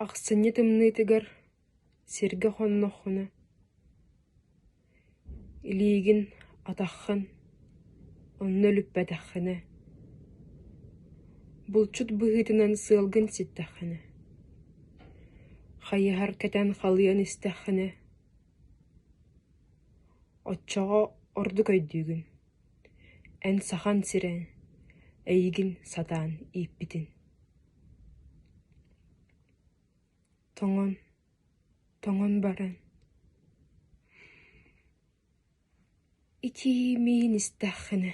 Ахсынньы тымныытыгар сиргэ хонноххуна, илиигин атаххын онно үлүппэтэххинэ, булчут быһыытынан сыалгын ситтэххинэ, хайыһар кэтэн халыйан истэххинэ, оччоҕо ордук өйдүүгүн Эн Сахан сирэ, эйигин сатаан ииппитин Тоҥон, тоҥон баран Итии миин истэххинэ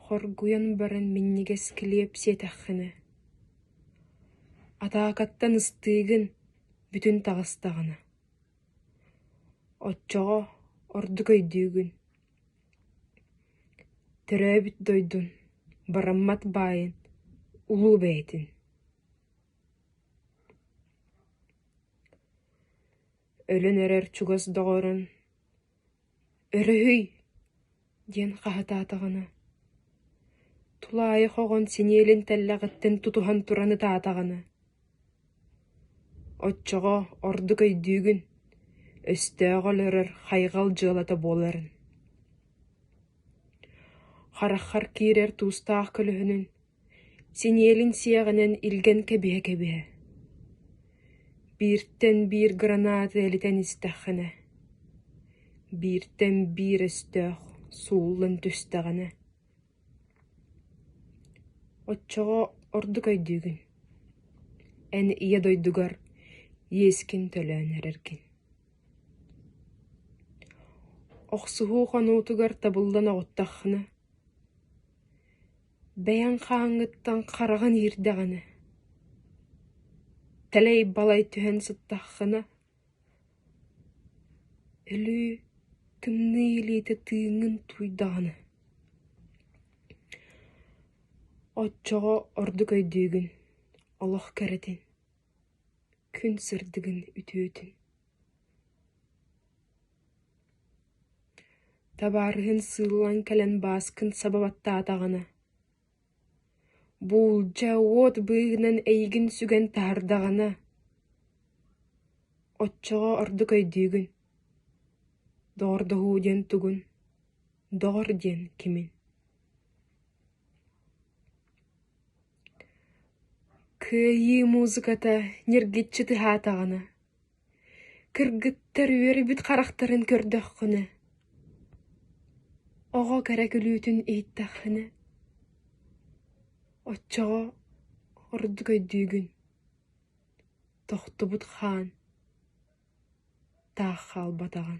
Хоргуйан баран минньигэс килиэп сиэтэххинэ Атаакаттан ыстыыгын бүтүн таҕыстаҕына Оччоҕо ордук өйдүүгүн: төрөөбүт дойдун, бараммат баайын улуу бэйэтин Өлөн эрэр чугас доҕорун Өрүһүй! диэн хаһытаатаҕына, тулаайах оҕон синиэлин тэллэҕиттэн тутуһан туран ытаатаҕына, оччоҕо ордук өйдүүгүн, өстөөҕө олорор хайҕал дьыалата буоларын. Хараххар киирэр туустаах көлөһүнүн Синиэлин сиэҕинэн илгэн кэбиһэ-кэбиһэ, бииртэн биир граната илитэн истэххинэ, бииртэн биир өстөөх сууллан түстэҕинэ, оччоҕо ордук өйдүүгүн, эн ийэ дойдугар иэскин төлөөн эрэргин. Охсуһуу хонуутугар табыллан оҕуттаххына, Бэйэҥ хааҥҥыттан хараҕын иирдэҕинэ, тэлэй-балай түһэн сыттаххына, өлүү тымныы илиитэ тыыҥҥын тууйдаҕына, оччоҕо ордук өйдүүгүн, олох кэрэтин, күн сырдыгын үтүөтүн. Табаарыһын сыыл ылан кэлэн Бааскын саба баттаатаҕына, буулдьа уот быыһынан эйигин сүгэн таһардаҕына, оччоҕо ордук өйдүүгүн, доҕордоһуу диэн тугун, доҕор диэн кимин Кыайыы музыката ньиргиччи тыһаатаҕына Кыргыттар үөрбүт харахтарын көрдөххүнэ, оҕо кэрэ күлүүтүн иһиттэххинэ, оччоҕо ордук өйдүүгүн: тохтубут хаан таах хаалбатаҕын